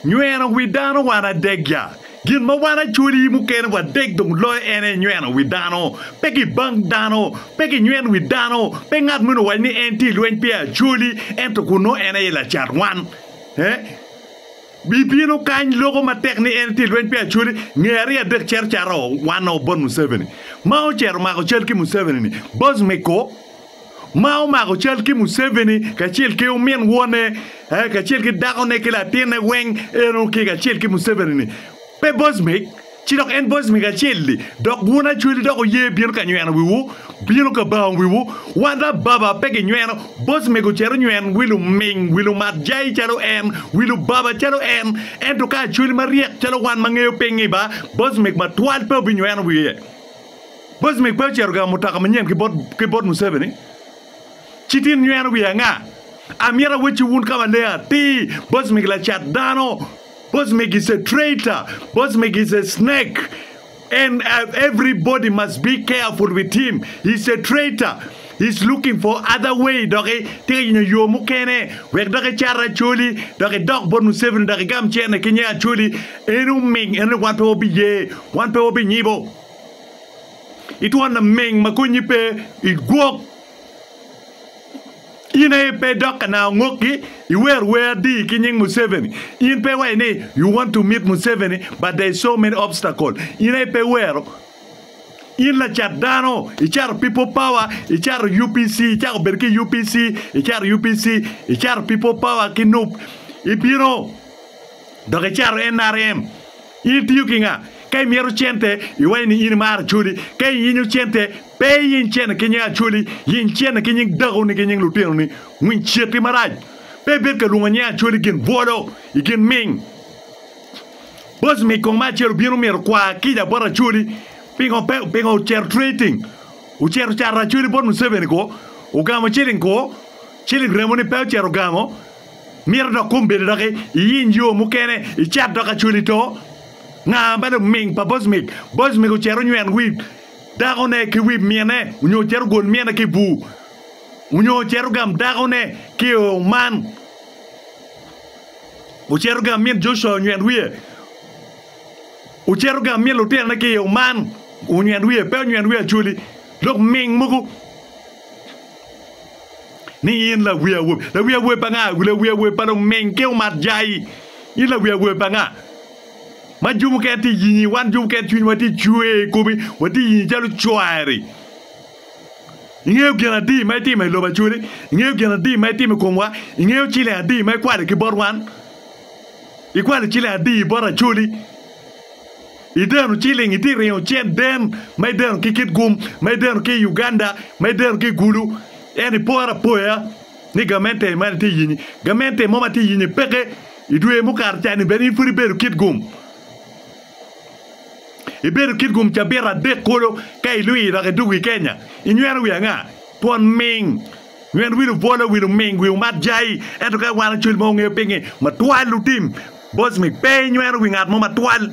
Nyweno wi dano wan adegya. Gin ma wan acwali mukene wadek dong loyo en aye nyweno wi dano. Pe kibang dano, pe kinywen wi dano, pe ngat moni owac ni en tye i lweny pi acwali, ento kun nongo en aye lacat wan. Eh? Bibino kany loko matek ni en tye i lweny pi acwali, nge ariyo adek cito cato wan o bot Museveni. Ma ocito omako cal ki Museveni-ni, boss me ko. ma omako cal ki Museveni kacel ki omin wone eh, kacel ki dakone ki latinne weng eno ki kacel ki Museveni-ni. Pe Bosmik, ci dok en Bosmik acel-li, dok wun Acweli dok wuye bino ka nyweno wiwu, bino ka bango wiwu, wan lababa pe ginyweno, Bosmik ocito nyweny wi luming, wi lumat jai calo en, wi lubaba calo en, ento ka Acweli maryek calo wan ma ngeyo pingngi ba, Bosmik matwal pe obinyweno wiye. Boc me kwe ocito gamo mutoka manyen ki bot Museveni, ci tin nyweno wiye anga? Amyero awecci wun ka maleng atir, Boc megi lacat dano, Boc megi is a traitor, Boc megi is a snake and everybody must be careful with him, is a traitor, is looking for other way dok tye ka yenyo yo mukene wek dok ecat Acholi dok edok bot Museveni dok egam cente ki nge Acholi en oming en ni wan pe wabiye, wan pe wabinyibo. Itwon lameng ma konyi pe i gwok. In aye ipe idok ka nayo ngokgi, iwer wer adi ki nying Museveni. In pe iwaco ni you want to meet Museveni but there is so many obstacle. In aye pe iwero. In lacat dano, icato people power, icato UPC, icako bedo ki UPC, icato UPC, icato people power ki nup, ibino dok icato NRM. In tiyo ki nga? Ka imyero cente, iwaco ni in imaro Acholi. Ka iyinyo cente, pe iyiny cene ki nying Acholi, yiny cene ki nying dakoni ki nying lutinoni. Winy ceti marac. Pe ibed ka lwongo nying Acholi i gin bwolo, i gin ming. Boss mic kong ma acel obino mito okwa kica bot Acholi, pingo pe, pingo ocito trading, ocito cato Acholi bot Museveni ko, ogamo ciling ko, ciling remoni pe ocito ogamo, Mito dok kum bedo dok iyiny yo mukene icet dok acwali to. Nga ma luming pa Bosmik? Bosmik ocito onyweno wib dakone ki wib mine onyo ocito ogol mine ki i bur onyo ocito ogam dakone ki i oo man ocito ogam min Joshua onyweno wiye ocito ogam min lutinone ki i oo man onyweno wiye pe onyweno wiye acwali lok ming mogo ni in lawi awobi, lawi awobi pa nga? Lawi awobi pa luming ki umatjai. In lawi awobi pa nga? Ma jub mukene tye yinyi, wan jub mukene cwinywa tye cwer i komi, watye yinyi calo cwari. Ingeyo gin adi ma itimo i lobo Acholi? Ingeyo gin adi ma itimo i komwa? Ingeyo ciling adi ma ikwali ki bot wan? Ikwali ciling adi bot Acholi? Ideno ciling iti ringo cen den ma ideno ki kitgum ma ideno ki i Uganda ma ideno ki i Gulu en iporo apoya ni gamente man itye yenye gamente mo ma tye yenye peke idwe mukato cani bene in pud ibedo kitgum ibedo kitgum cabit adek kulu ka ilwir dok idwogo i Kenya inyweno wi anga twon ming nyen wil obwolo wil oming wi omat jayi ento ka iwano cwil ma wungeyo pinge matwal lutim bocmi pe inyweno wi ngat mo matwal.